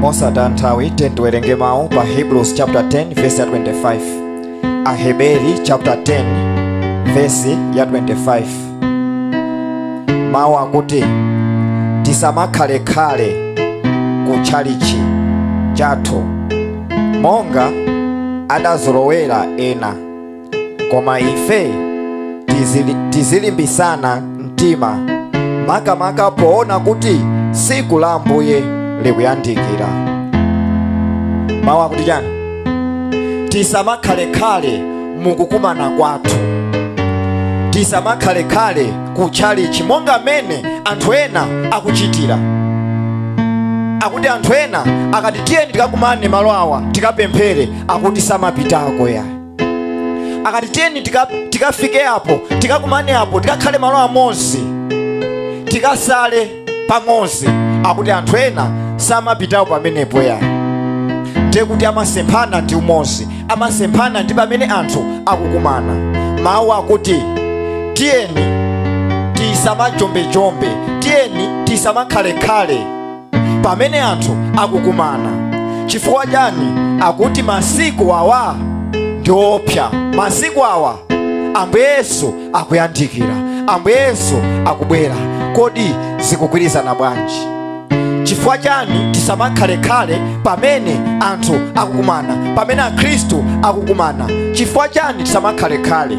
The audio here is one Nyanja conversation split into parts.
mosataya nthawi tiyeni tiwerenge mawu pa hebrews chapter 10 verse ya 25 aheberi chapter 10 verse ya 25 mawu akuti tisamakhalekhale ku tchalichi chathu monga adazolowera ena koma ife tizili, tizilimbisana mtima makamaka poona kuti siku la ambuye likuyandikira mawu akuti chani tisamakhalekhale mukukumana kwathu tisamakhalekhale ku tchalichi monga mmene anthu ena akuchitira akuti anthu ena akati tiyeni tikakumane malo awa tikapemphere akuti samapitako ya akati tiyeni tika- tikafike apo tikakumane apo tikakhale malo amodzi tikasale pamodzi akuti anthu ena samapitawo pamenepo ya ndiye kuti amasemphana ndi umodzi amasemphana ndi pamene anthu akukumana mawu akuti tiyeni tisamajombe-jombe tiyeni tisamakhalekhale pamene anthu akukumana chifukwa chani akuti masiku awa ndi oopsa masiku awa ambuye yesu akuyandikira ambuye yesu akubwera kodi zikugwirizana bwanji chifukwa chani tisamakhalekhale pamene anthu akukumana pamene akhristu akukumana chifukwa chani tisamakhalekhale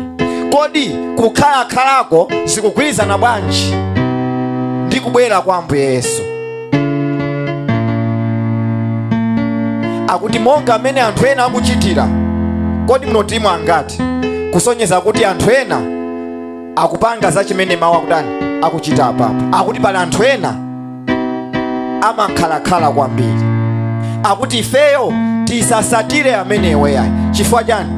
kodi kukhalakhalako zikugwirizana bwanji ndi kubwera kwa ambuye yesu akuti monga mmene anthu ena akuchitira kodi mnotimo angati kusonyeza kuti anthu ena akupanga za chimene mawu akudana akuchita apapo akuti pali anthu ena amakhalakhala kwambiri akuti ifeyo tisasatire amenewo yayi chifukwa chani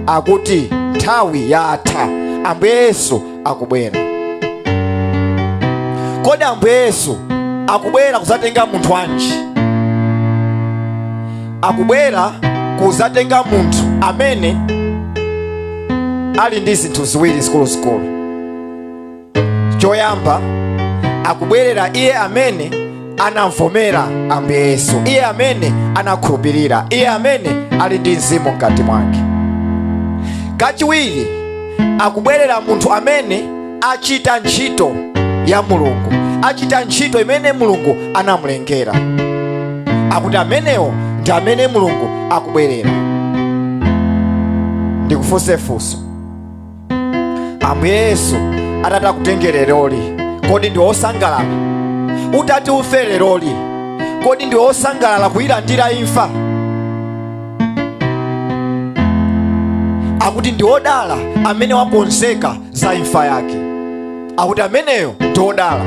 akuti nthawi yatha ambuye yesu akubwera kodi ambuye yesu akubwera kuzatenga munthu wanji akubwera kuzatenga munthu amene ali ndi zinthu ziwiri zikuluzikulu choyamba akubwerera iye amene anamvomera ambuye yesu iye amene anakhulupirira iye amene ali ndi mzimu mkati mwake kachiwiri akubwerera munthu amene achita ntchito ya mulungu achita ntchito imene mulungu anamulengera akuti amenewo ndi amene mulungu akubwerera ndikufunse funso ambuye yesu atati akutenge leroli kodi ndi wosangalala utati ufe leroli kodi ndi wosangalala kuyilandira imfa akuti ndi wodala amene wakonzeka za imfa yake akuti ameneyo ndi wodala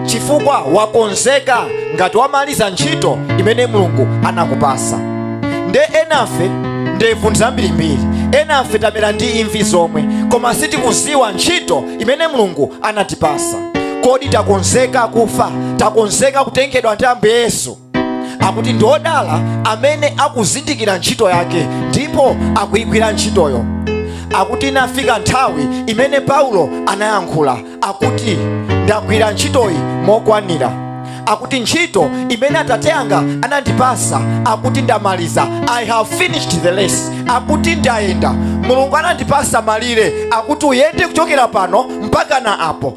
chifukwa wakonzeka ngati wamaliza ntchito imene mulungu anakupasa nde enafe ndevu zambirimbiri enafe tamera ndi imvi zomwe koma sitikuziwa ntchito imene mulungu anatipasa kodi takonzeka kufa takonzeka kutengedwa ndi ambuye yesu akuti ndi odala amene akuzindikira ntchito yake ndipo akuyigwira ntchitoyo akuti inafika nthawi imene paulo anayankhula akuti ndagwira ntchitoyi mokwanira akuti ntchito imene atate yanga anandipasa akuti ndamaliza i have finished the race akuti ndayenda mulungu anandipasa malire akuti uyende kuchokera pano mpaka na apo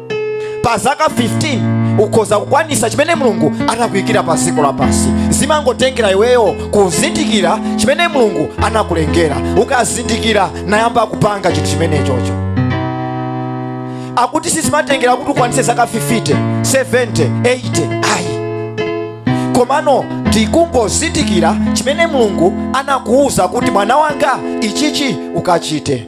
pa zaka 15 ukhoza kukwanisa chimene mulungu anakuyikira pa dziko lapansi zimangotengera iweyo kuzindikira chimene mulungu anakulengera ukazindikira nayamba kupanga chinthu chimenechocho akuti sizimatengera kuti ukwanise zaka 50 70 80 ayi komano ndikungozindikira chimene mulungu anakuwuza kuti mwana wanga ichichi ukachite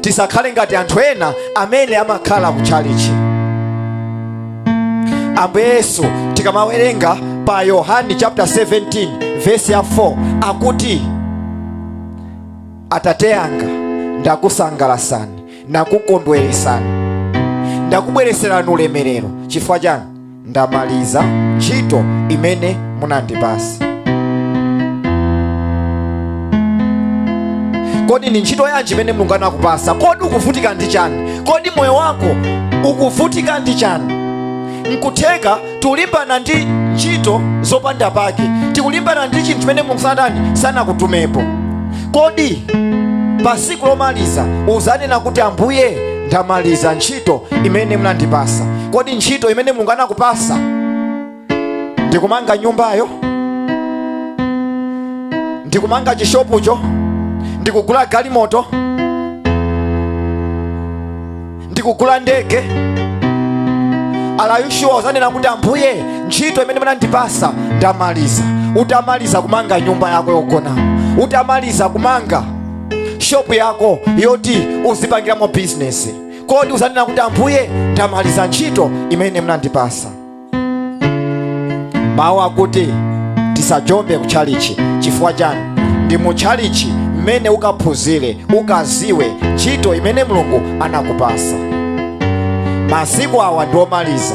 tisakhale ngati anthu ena amene amakhala ku chalichi ambuye yesu tikamawerenga pa yohani chapter 17 vesi ya 4 akuti atate yanga ndakusangalasani nakukondweresani ndakubwereserani ulemerero chifukwa chani ndamaliza ntchito imene munandipasa kodi ndi ntchito yanji imene mulungu anakupasa kodi ukuvutika ndi chani kodi moyo wako ukuvutika ndi chani nkutheka tikulimbana ndi ntchito zopanda pake tikulimbana ndi chinthu chimene mulungu sanatani sanakutumepo kodi pa siku lomaliza uzanena kuti ambuye ndamaliza ntchito imene munandipasa kodi ntchito imene mulungu anakupasa ndikumanga nyumbayo ndikumanga chishopucho ndikugula galimoto ndikugula ndege are you sure uzanena kuti ambuye ntchito imene munandipasa ndamaliza utamaliza kumanga nyumba yako yogonamo utamaliza kumanga shopu yako yoti uzipangiramo bizinesi kodi uzanena kuti ambuye ndamaliza ntchito imene munandipasa mawu akuti tisajombe kutchalichi chifukwa chani ndi mutchalichi mmene ukaphunzire ukaziwe ntchito imene mulungu anakupasa masiku awa ndiomaliza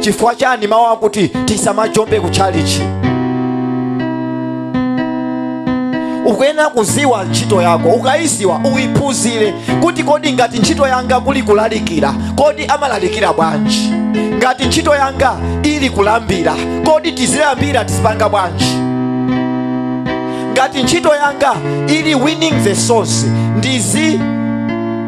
chifukwa chani mawu akuti tisamajombe ku chalichi ukuyenera kuziwa ntchito yako ukayiziwa uyiphunzire kuti kodi ngati ntchito yanga kuli kulalikira kodi amalalikira bwanji ngati ntchito yanga ili kulambira kodi tizilambira tizipanga bwanji ngati ntchito yanga ili winning the souls ndizi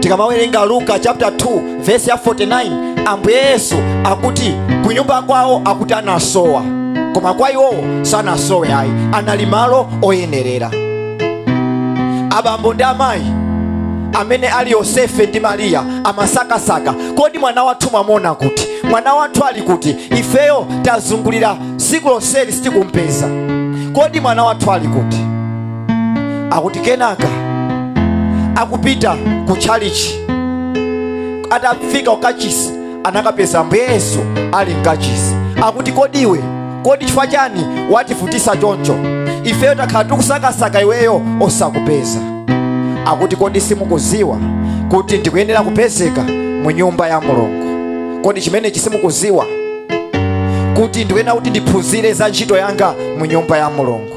tikamawerenga luka chapter 2 verse ya 49 ambuye yesu akuti kunyumba kwawo akuti anasowa koma kwa iwowo sanasowe ayi anali malo oyenerera abambo ndi amayi amene ali yosefe ndi mariya amasakasaka kodi mwana wathu mwamuona kuti mwana wathu ali kuti ifeyo tazungulira siku lonseli sitikumpeza kodi mwana wathu ali kuti akuti kenaka akupita ku tchalichi atafika kukachisi anakampeza ambuye yesu ali mkachisi akuti kodi iwe kodi chifukwa chani wativutisa choncho ifeyo takhala tikusakasaka iweyo osakupeza akuti kodi simukuziwa kuti ndikuyenera kupezeka mu nyumba ya mulungu kodi chimenechi simukuziwa kuti ndikuyenera kuti ndiphunzire za ntchito yanga mu nyumba ya mulungu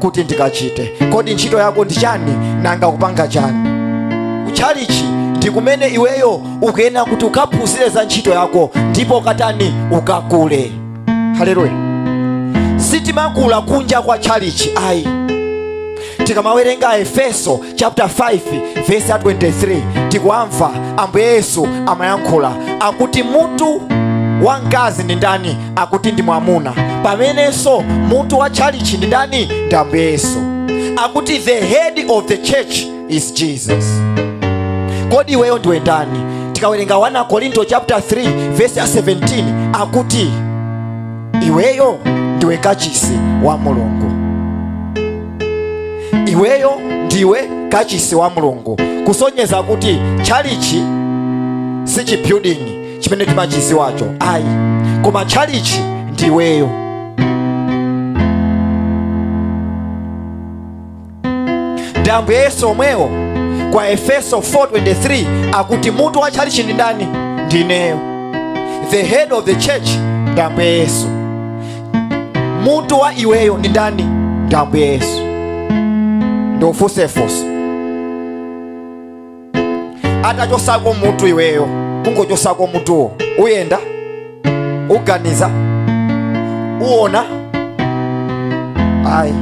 kuti ndikachite kodi ntchito yako ndi chani nanga ukupanga chani kutchalichi ndi kumene iweyo ukuyenera kuti ukaphunzire za ntchito yako ndipo ukatani ukakule haleluya sitimakula kunja kwa tchalichi ayi tikamawerenga aefeso chapter 5 verse ya 23 tikuwamva ambuye yesu amayankhula akuti mutu wa mkazi ndi ndani akuti ndi mwamuna pamenenso mutu wa tchalichi ndi ndani ndi ambuye yesu akuti the head of the church is jesus kodi iweyo ndiwe ndani tikawerenga 1 akorinto chapter 3 verse ya 17 akuti iweyo ndiwe kachisi wa mulungu iweyo ndiwe kachisi wa mulungu kusonyeza kuti tchalichi si chibuilding chimene timachiziwacho ayi koma tchalichi ndiweyo ndi ambuye yesu omwewo kwa efeso 4:23 akuti mutu wa tchalichi ndi ndani ndineyo the head of the church ndi ambuye yesu mutu wa iweyo ndi ndani ndi ambuye yesu ndikufunsefunse atachosako mutu iweyo kungochosako mutuwo uyenda uganiza uona ayi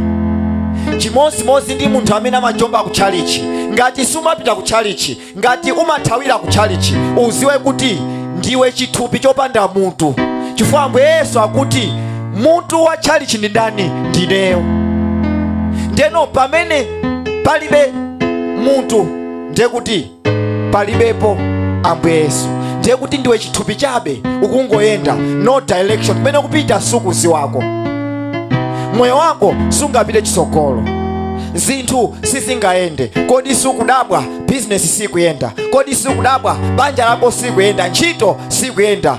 chimodzimodzi ndi munthu amene amajomba ku tchalichi ngati siumapita ku tchalichi ngati umathawira ku tchalichi uziwe kuti ndiwe chithupi chopanda mutu chifukwa ambuye yesu akuti mutu wa tchalichi ndi ndani ndineyo ndeno pamene palibe mutu ndiye kuti palibepo ambuye yesu ndiye kuti ndiwe chithupi chabe ukungoyenda no direction kumene kupita sukuziwako moyo wako sungapite chitsogolo zinthu sizingayende kodi sukudabwa bizinesi sikuyenda kodi sukudabwa banja lako sikuyenda ntchito sikuyenda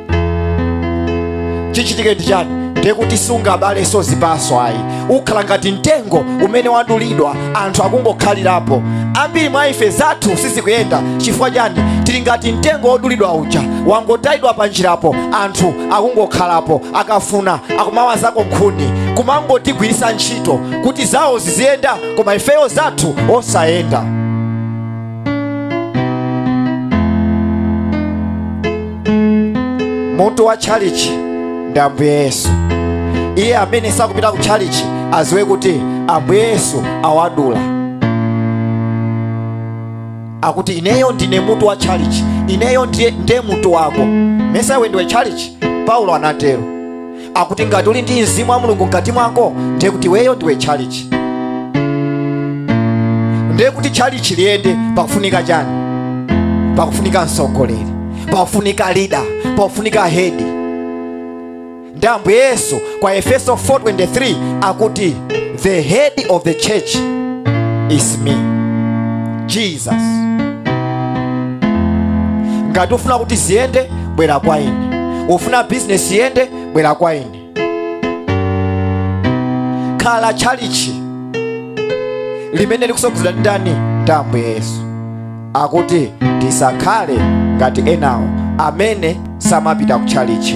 chichitike ndi chani ndiye kuti sungabaleso zipaso ayi ukhala ngati mtengo umene wadulidwa anthu akungokhalirapo ambiri mwa ife zathu sizikuyenda chifukwa chani tili ngati mtengo wodulidwa uja wangotayidwa pa njirapo anthu akungokhalapo akafuna akumawazako nkhuni kumangotigwiritsa ntchito kuti zawo ziziyenda koma ifeyo zathu osayenda mutu wa tchalichi ndi ambuye yesu iye amene sakupita ku tchalichi aziwe kuti ambuye yesu awadula akuti ineyo ndine mutu wa tchalichi ineyo ndiye mutu wako mesa iwe ndiwe tchalichi paulo anatero akuti ngati uli ndi mzimu wa mulungu mkati mwako ndiye kuti iweyo ndiwe tchalichi ndiye kuti tchalichi liyende pakufunika chani pakufunika mtsogoleri pakufunika lida pakufunika hedi ndi ambuye yesu kwa efeso 4:23 akuti the head of the church is me jesus ngati ufuna kuti ziyende bwera kwa ine ufuna bizinesi iyende bwera kwa ine khala tchalichi limene likusogozedwa ndi ndani ndi ambuye yesu akuti tisakhale ngati enawo amene samapita ku tchalichi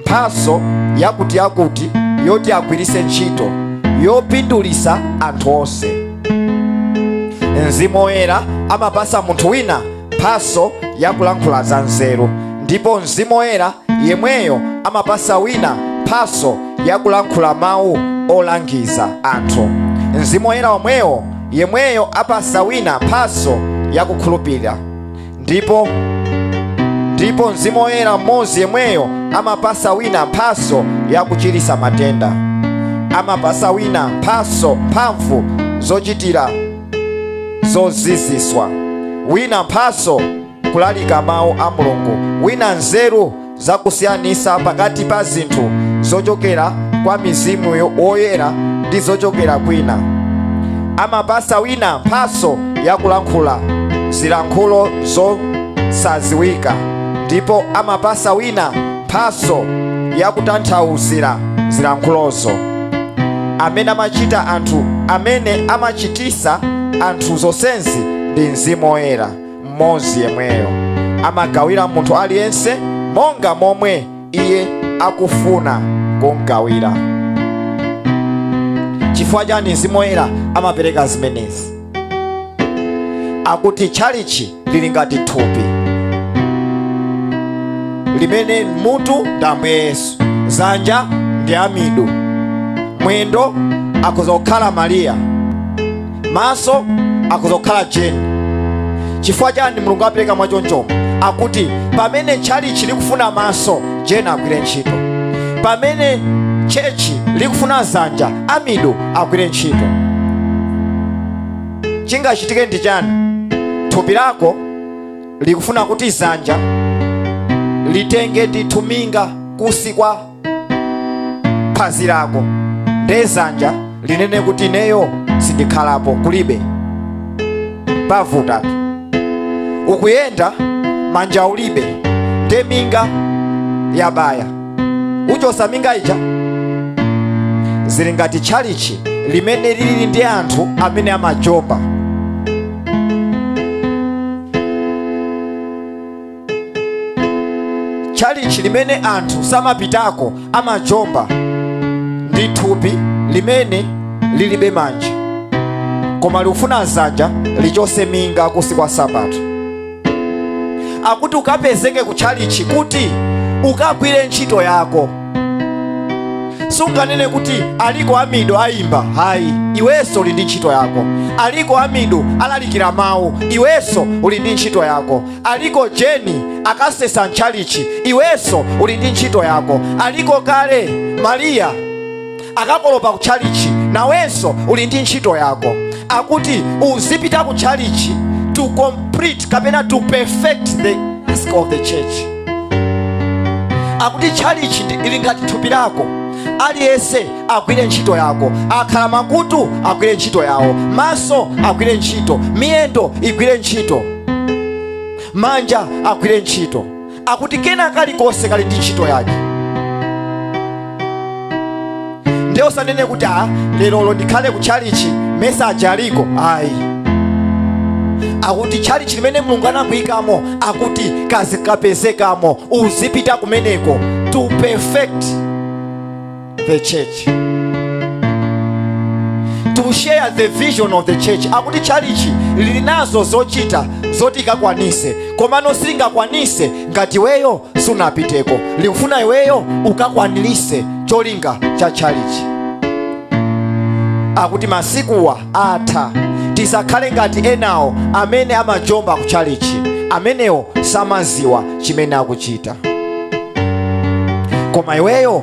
mphatso yakutiyakuti yoti agwiritse ntchito yopindulitsa anthu onse mzimu woyera amapasa munthu wina mphatso yakulankhula za nzeru ndipo mzimu woyera yemweyo amapasa wina mphatso yakulankhula mawu olangiza anthu mzimu woyera womwewo yemweyo apasa wina mphatso yakukhulupirira ndipo ndipo mzimu woyera mmodzi yemweyo amapasa wina mphaso yakuchiritsa matenda amapasa wina mphaso mphamvu zochitira zoziziswa wina mphaso kulalika mawu a mulungu wina nzeru za kusiyanisa pakati pa zinthu zochokera kwa mzimu woyera ndi zochokera kwina amapasa wina mphaso yakulankhula zilankhulo zosaziwika ndipo amapasa wina mphaso yakutanthauzira zilankhulozo amene amachita anthu amene amachitisa anthu zonsezi ndi mzimu woyera mmodzi yemweyo amagawira munthu aliyense monga momwe iye akufuna kumgawira chifukwa chani mzimu woyera amapereka zimenezi akuti tchalichi lili ngati thupi limene mutu ndi ambuye yesu zanja ndi amidu mwendo akhoza kukhala mariya maso akhoza kukhala jeni chifukwa chani mulungu apereka mwachonchomo akuti pamene tchalichi likufuna maso jeni agwire ntchito pamene chechi likufuna zanja amidu agwire ntchito chingachitike ndi chani thupi lako likufuna kuti zanja litenge ndithu minga kusi kwa phazi lako nde zanja linene kuti ineyo sindikhalapo kulibe pavutatu ukuyenda manja ulibe nde minga yabaya uchosa minga ija zili ngati tchalichi limene lili ndi anthu amene amajomba tchalichi limene anthu samapitako amajomba ndi thupi limene lilibe manja koma likufuna zanja lichose minga kusi kwa sabato akuti ukapezeke ku tchalichi kuti ukagwire ntchito yako sunganene kuti aliko amidu ayimba hayi iwenso uli ndi ntchito yako aliko amidu alalikira mawu iwenso uli ndi ntchito yako aliko jeni akasesa mtchalichi iwenso uli ndi ntchito yako aliko kale mariya akakolopa ku tchalichi nawenso uli ndi ntchito yako akuti uzipita ku tchalichi to complete kapena to perfect the task of the church akuti tchalichi ndi- ili ngati thupi lako aliyense agwire ntchito yake akhala makutu agwire ntchito yawo maso agwire ntchito miyendo igwire ntchito manja agwire ntchito akuti kena kalikonse kali ndi ntchito yake ndiye usanene kuti a lerolo ndikhale ku tchalichi mesa aje aliko ayi akuti tchalichi limene mulungu anakuyikamo akuti kazikapezekamo uzipita kumeneko to perfect the church to share the vision of the church akuti tchalichi lili nazo zochita zoti likakwanise komano silingakwanise ngati iweyo sunapiteko likufuna iweyo ukakwanirise cholinga cha tchalichi akuti masikuwa atha tisakhale ngati enawo amene amajomba ku tchalichi amenewo samaziwa chimene akuchita koma iweyo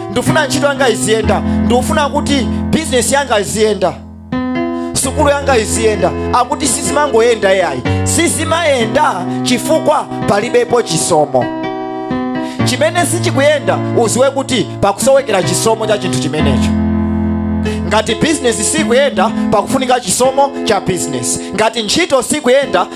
ndikufuna ntchito yanga iziyenda ndikufuna kuti bizinesi yanga iziyenda sukulu yanga iziyenda akuti sizimangoyenda yayi sizimayenda chifukwa palibepo chisomo chimene sichikuyenda uziwe kuti pakusowekera chisomo cha chinthu chimenecho ngati bizinesi sikuyenda pakufunika chisomo cha bizinesi ngati ntchito sikuyenda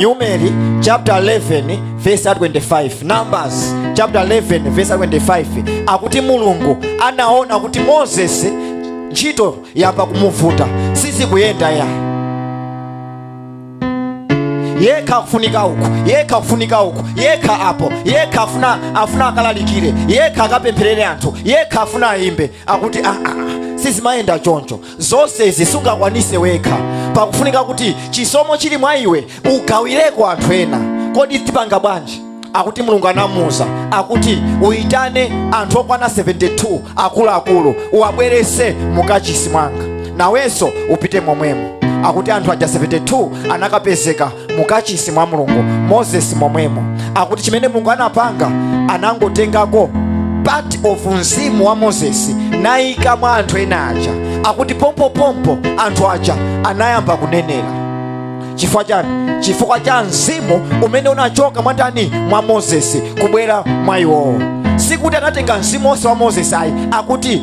numeri chapter 11 verse 25 numbers chapter 11 verse 25 akuti mulungu anaona kuti moses ntchito yamba kumuvuta sizikuyenda ya yekha akufunika uku yekha akufunika uku yekha apo yekha afuna akalalikire yekha akapempherere anthu yekha afuna ayimbe akuti aa sizimayenda choncho zonse izi sungakwanise wekha pakufunika kuti chisomo chili mwa iwe ugawireko anthu ena kodi tipanga bwanji akuti mulungu anamuuza akuti uyitane anthu okwana 72 akuluakulu uwabwerese mukachisi mwanga nawenso upite momwemo akuti anthu aja 72 anakapezeka mukachisi mwa mulungu moses momwemo akuti chimene mulungu anapanga anangotengako part of mzimu wa moses nayika mwa anthu ena aja akuti pompopompo anthu aja anayamba kunenera chifukwa chani chifukwa cha mzimu umene unachoka mwa ndani mwa moses kubwera mwa iwowo sikuti anatenga mzimu wonse wa moses ayi akuti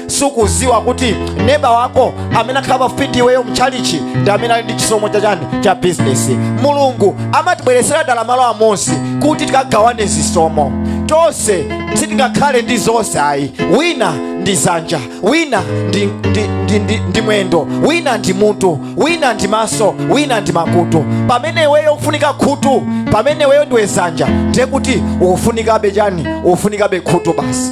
sukuziwa kuti neba wako amene wakhala pafupi ndi iweyo mtchalichi ndi amene ali ndi chisomo chachani cha bizinesi mulungu amatibweretsera dala malo amodzi kuti tikagawane zisomo tonse sitingakhale ndi zonse ayi wina ndi zanja wina ndi mwendo wina ndi mutu wina ndi maso wina ndi makutu pamene iweyo ukufunika khutu pamene iweyo ndiwe zanja ndiye kuti ukufunikabe chani ukufunikabe khutu basi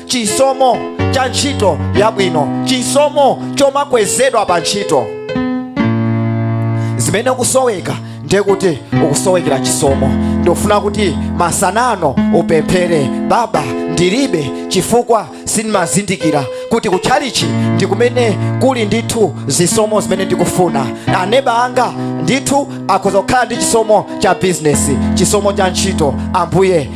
chisomo cha ntchito yabwino chisomo chomakwezedwa pa ntchito zimene ukusoweka ndiye kuti ukusowekera chisomo ndikufuna kuti masanano upemphere baba ndilibe chifukwa sindimazindikira kuti kutchalichi ndi kumene kuli ndithu zisomo zimene ndikufuna aneba anga ndithu akhoza kukhala ndi chisomo cha bizinesi chisomo cha ntchito ambuye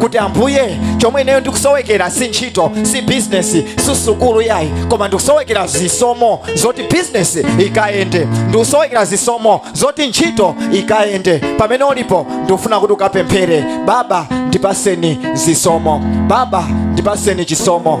kuti ambuye chomwe ineyo ndikusowekera si ntchito si bizinesi si sukulu yayi koma ndikusowekera zisomo zoti bizinesi ikayende ndikusowekera zisomo zoti ntchito ikayende pamene ulipo ndikufuna kuti ukapemphere baba ndipaseni zisomo baba ndipaseni chisomo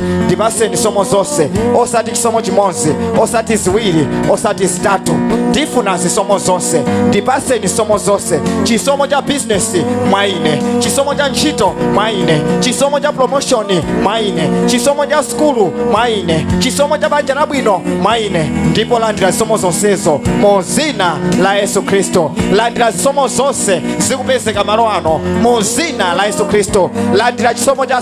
ndipaseni zisomo zonse osati chisomo chimodzi osati ziwiri osati zitatu ndifuna zisomo zonse ndipaseni zisomo zonse chisomo cha bizinesi mwa ine chisomo cha ntchito mwa ine chisomo cha promoshoni mwa ine chisomo cha sukulu mwa ine chisomo cha banja labwino mwa ine ndipo landira zisomo zonsezo mu zina la yesu khristu landira zisomo zonse zikupezeka malo ano mu zina la yesu khristu landira chisomo cha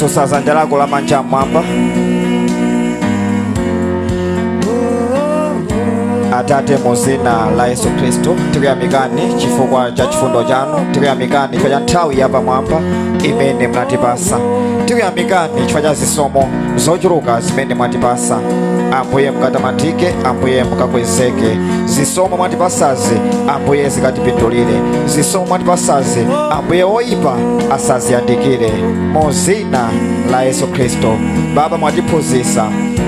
sosa dzanja lako lamanja mmwamba atate mu zina la yesu khristu tikuyamikani chifukwa cha chifundo chanu tikuyamikani chifukwa cha nthawi yapamwamba imene munatipasa tikuyamikani chifukwa cha zisomo zochuluka zimene mwatipasa ambuye mukatamandike ambuye mukakwezeke zisomo mwatipasazi ambuye zikatipindulire zisomo mwatipasazi ambuye woyipa asaziyandikire mu zina la yesu khristu baba mwatiphunzitsa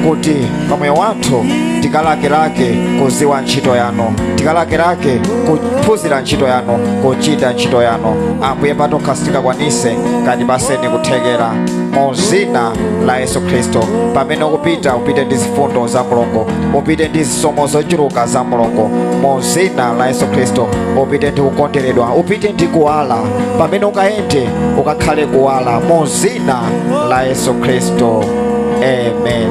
kuti pa moyo wathu tikalakelake kuziwa ntchito yanu tikalakelake kuphunzira ntchito yanu kuchita ntchito yanu ambuye patokha sitingakwanise mukatipase kuthekera mu zina la yesu khristu pamene ukupita upite ndi zifundo za mulungu upite ndi zisomo zochuluka za mulungu mu zina la yesu khristu upite ndi kukonderedwa upite ndi kuwala pamene ukayende ukakhale kuwala mu zina la yesu khristu amen